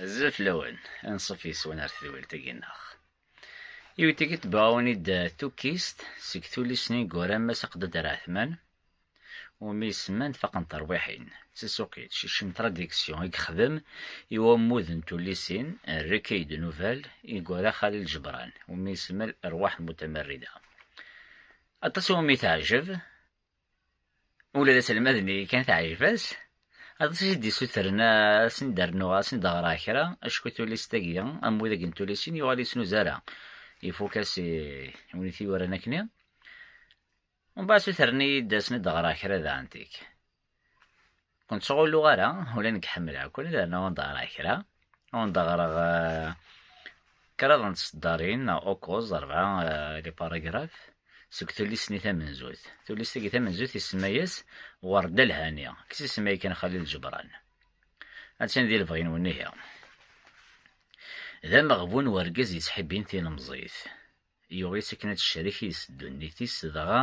Azul fell-awen, anṣuf yes-wen ar tedwilt-agi-nneɣ. Iwetigi tebɛawen-id tukkist seg tullist n yineggura Mass Aqdad Raɛtman, umi isemman Faqen terwiḥin, d tasuqilt Cicem Tradiction i yexdem i wammud n tullisin Recueil de nouvelles i yura Xalil Ǧebran, umi isemmal Rrwaḥ n Mutamarrida. Aṭas i wumi teɛjeb. Ula d aselmad-nni kan teɛjeb-as. Aṭas i d-issutren ad sen-d-rnuɣ, ad sen-d-ɣreɣ kra, acku tullist-agi, am widak n tullisin, yuɣal ur yettnuz ara. Ifuk-as i win i t-yuran akkenni. Mbeɛd ssutren-iyi-d ad sen-d-ɣreɣ kra daɣen tik. Ur nettɣullu ara, ula nekk ḥemmleɣ-ken, yerna ur d-ɣriɣ kra. Ur d-ɣriɣ kraḍ n tseddarin, neɣ ukuẓ, rebɛa, les paragraphes, seg tullist-nni tamenzut. Tullist-agi tamenzut isemma-yas Werda Lhani, deg tsisemma yakan Xalil Ǧebran. Attan di lebɣi-nwen ihi. D ameɣbun wergaz yettḥibbin tilemẓit. Yuɣ-itt akken ad tecrek yis ddunit-is, dɣa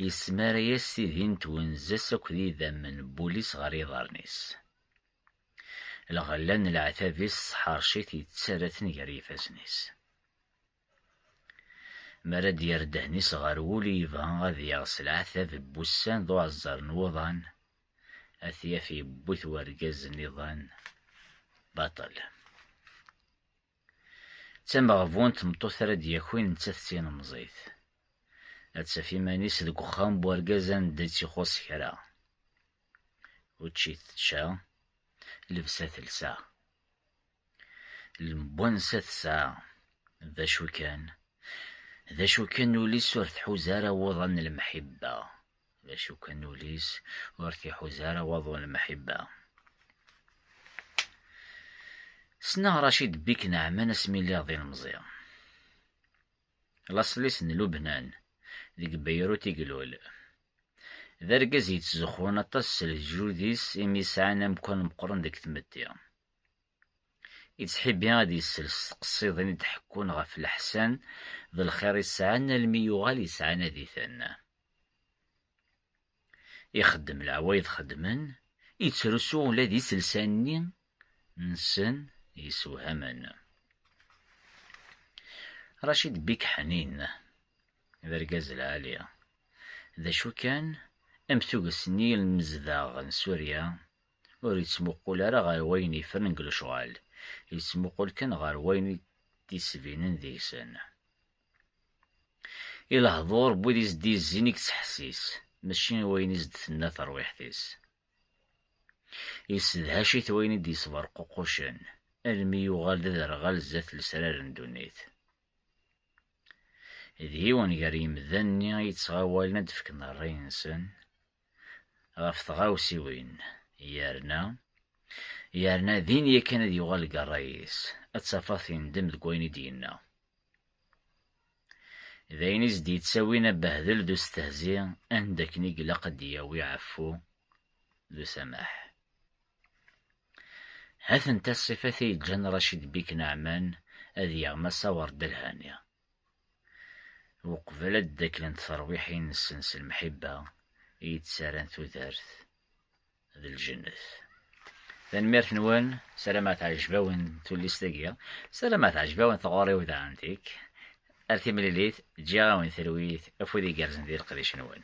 yesmara-yas tidi n twenza-s akked yidammen n wul-is ɣer yiḍarren-is. Lɣella n leɛtab-is tesḥerc-it yettarra-ten gar yifassen-is. Mi ara d-yerr ddehn-is ɣer wul i yebɣa ad yaɣ s leɛtab n wussan d uɛeẓẓer n wuḍan, ad t-yaf yewwi-t wergaz n iḍan baṭel. D tameɣbunt tmeṭṭut ara d-yakin nettat d tilemẓit. Ad taf iman-is deg uxxam n urgaz anda i tt-ixuṣṣ kra. Učči tečča, lebsa telsa. Lemwansa tesɛa. D acu kan, d acu kan ul-is ur tḥuz ara wuḍan n lemḥibba. D acu kan ul-is ur t-iḥuza ara waḍu n lemḥibba. Ssneɣ Racid Bik Naɛman asmi lliɣ d ilemẓi. Laṣel-is n Lubnan, deg Beyrut i ilul. D argaz yettzuxxun aṭas s leǧyud-is imi sɛan amkan meqqren deg tmetti. Yettḥibbi ad yessels s tqessiḍin i d-ḥekkun ɣef leḥsan d lxir i sɛan almi yuɣal yettɛanad-iten. Ixeddem leɛwayed xeddmen, yettrusu ula d iselsa-nni nsen yessewhamen. Racid Bik Ḥnin, d argaz lɛali. D acu kan, am tuget n yilmezdaɣ n Surya, Ur yettmuqul ara ɣer wayen yefren deg lecɣal, yettmuqul kan ɣer wayen i d-yettbinen deg-sen. I lehdur n wid i s-d-yezzin i yettḥessis, mačči i wayen i s-d-tenna terwiḥt-is. Yessedhac-it wayen i d-yesberququcen, almi yuɣal d aderɣal zdat lesrar n ddunit. D yiwen gar yimdanen-nni i yettɣawalen ad d-fken rray-nsen, ɣef tɣawsiwin yerna yerna din yakan ad yuɣal deg ṛṛay-is, ad tafeḍ tindem deg wayen i d-yenna. D ayen i s-d-yettawin abehdel d ustehzi anda akken i ilaq ad d-yawi ɛeffu d usamaḥ. Ha-tent-a ṣṣifat i yeǧǧan Racid Bik Naɛman ad yaɣ Massa Werdelhani. Uqbel ad d-aklen terwiḥin-nsen s lemḥibba i yi-d-ttarran tudert d lǧennet. Tanemmirt-nwen, sarameɣ teɛjeb-awen tullist-agi, sarameɣ teɛjeb-awen tɣuri-w d Antique. Ar timlilit, ǧǧiɣ-awen talwit, afud igerrzen di leqdic-nwen.